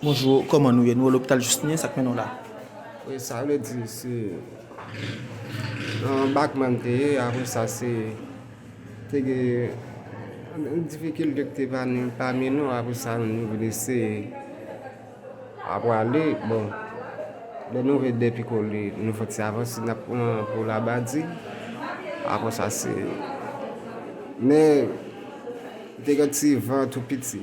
Bonjou kòman nou ye nou lopital jistin sak mennen w la. Wi sa vle di se nan bakman m te ye apre sa se te gen difikilte ki te pami nou apre sa nou vin eseye a pwale bon lè nou rive depi kole nou fè ti avanse n ap pran pou labadi apre sa se men te gen ti van tou piti.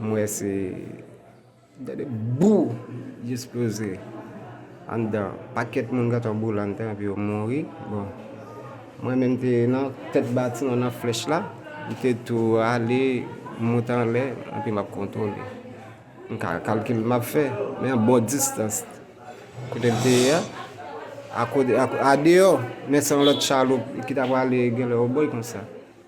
M wè se gade bou li esploze anndan pakèt moun gentan boule anndan epi yo mouri bon mwen menm m te nan tèt batiman nan flèch la m te tou ale monte anlè epi m ap kontwole m ka kalkil m ap fè men yon bon distans kote m te ye a akote a deyò men se yon lòt chaloup ki ta prale genlè yon bòy konsa.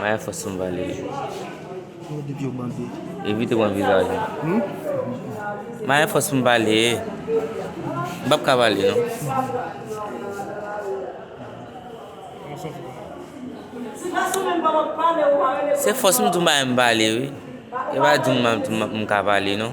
Maya fò sou m Valery. Evite pran vizaj mwen. Maya fò sou m Valery. M pap ka pale non. Se fòs m tou m pa menm pale wi. E pa di m m ka pale non.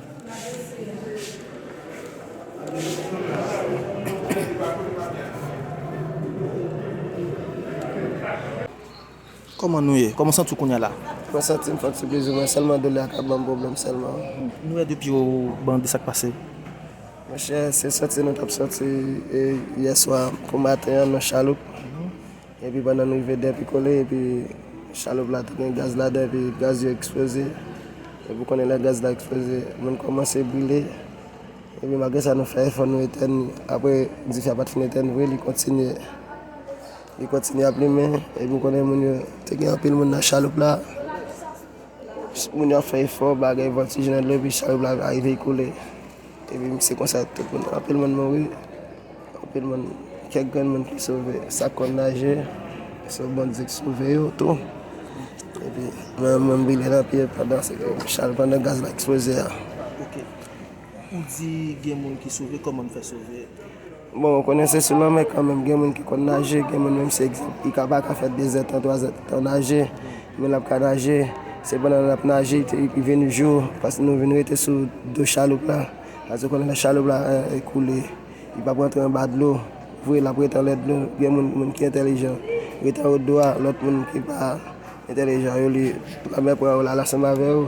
Kòman nou ye? Kòman w santi w kounya la? Mwen santi m fòt se plezimwen sèlman doulè a kap banm pwoblèm sèlman. Nou wè depi yo bandi sak pase? Monchè se sòti nou tap sòti yèswa pou maten an nan chaloup. Epi pandan n rive dèpi kole epi chaloup la tounen gaz ladan epi gaz yo eksploze epi ou konnen lè gaz la eksploze moun kòmanse brile epi malgre sa nou fè efò nou etèn li apre dife a pat fin etèn vre li kontinye li kontinye ap limen epi ou konnen moun yo te gen anpil moun nan chaloup la moun yo ap fè efò bagay voltije nan dlo epi chaloup la arive koule. Epi se konsa tout moun, anpil moun mouri, anpil moun, kèk grenn moun ki sove, sa k konn naje, se Bondye ki sove yo tou. Epi mwen menm mwen brile nan pye pandan se te chal pandan gaz la eksploze a. Ok. Ou di gen moun ki sove, kòman nou fè sove? Bon, ou konnen se sou lanmè kanmenm, gen moun ki konn naje, gen moun menm si egzanp li ka pa ka fè dezè tan, twazè tan naje, men l ap ka naje. Se pandan l ap naje te epi vin yon jou, pas nou vin rete sou do chaloup la, pase ou konnen lè chaloup la koule, li p ap rantre anba dlo vre, l ap rete anlè dlo. Gen moun, moun ki entèlijan rete anwo dlo a, lòt moun ki pa entèlijan yo li lanmè pran yo l al ansanm avè yo.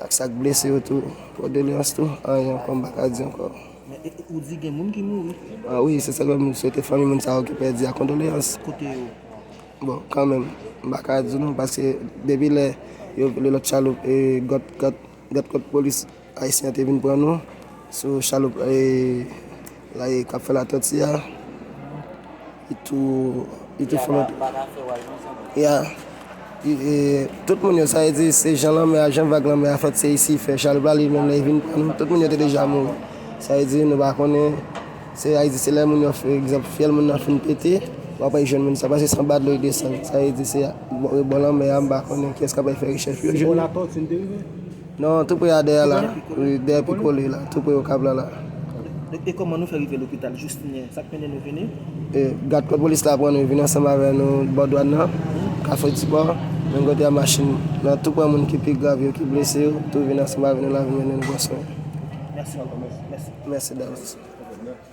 Ak sak blese yo tou kondoleyans tou anyen ankò mpa ka di ankò. Men ou di gen moun ki mouri. Ah wi se sak fè m swete fanmi moun sa yo ki pèdi a kondoleyans. Kote yo? Bon kanmenm mpa ka di nou paske depi lè yo vole lòt chaloup e gòt gòt gòt polis ayisyen an te vin pran nou sou chaloup e. La e kap fè la tòti a li tou li tou fò ya e tout moun yo sa e di se jan lanmè a jan vag lanmè a fèt se isi fè chal pral li menm lè vin pran nou tout moun yo te deja mouri sa e di nou pa konnen se a e di se lè moun yo fè egzanp fyèl moun nan fin pete wap al jwenn moun sa pase se anba dlo li desann sa e di se a bò lanmè a m pa konnen kiyès kap al fè rechèch pou yo jwenn li. Non tou pre a dèyè la wi dèyè pikole la tou pre okap la la. Dok e koman nou fè rive lopital jous kounyè sak mennen nou vini. E gad kod polis la pran nou vini ansanm avè nou bò dwan nan kafe dipò menm kote a machin nan tou pran moun ki pi grav yo ki blese yo tou vini ansanm avè nou la vin mennen nou pran swen. Mèsi ankò mèsi. Mèsi davans.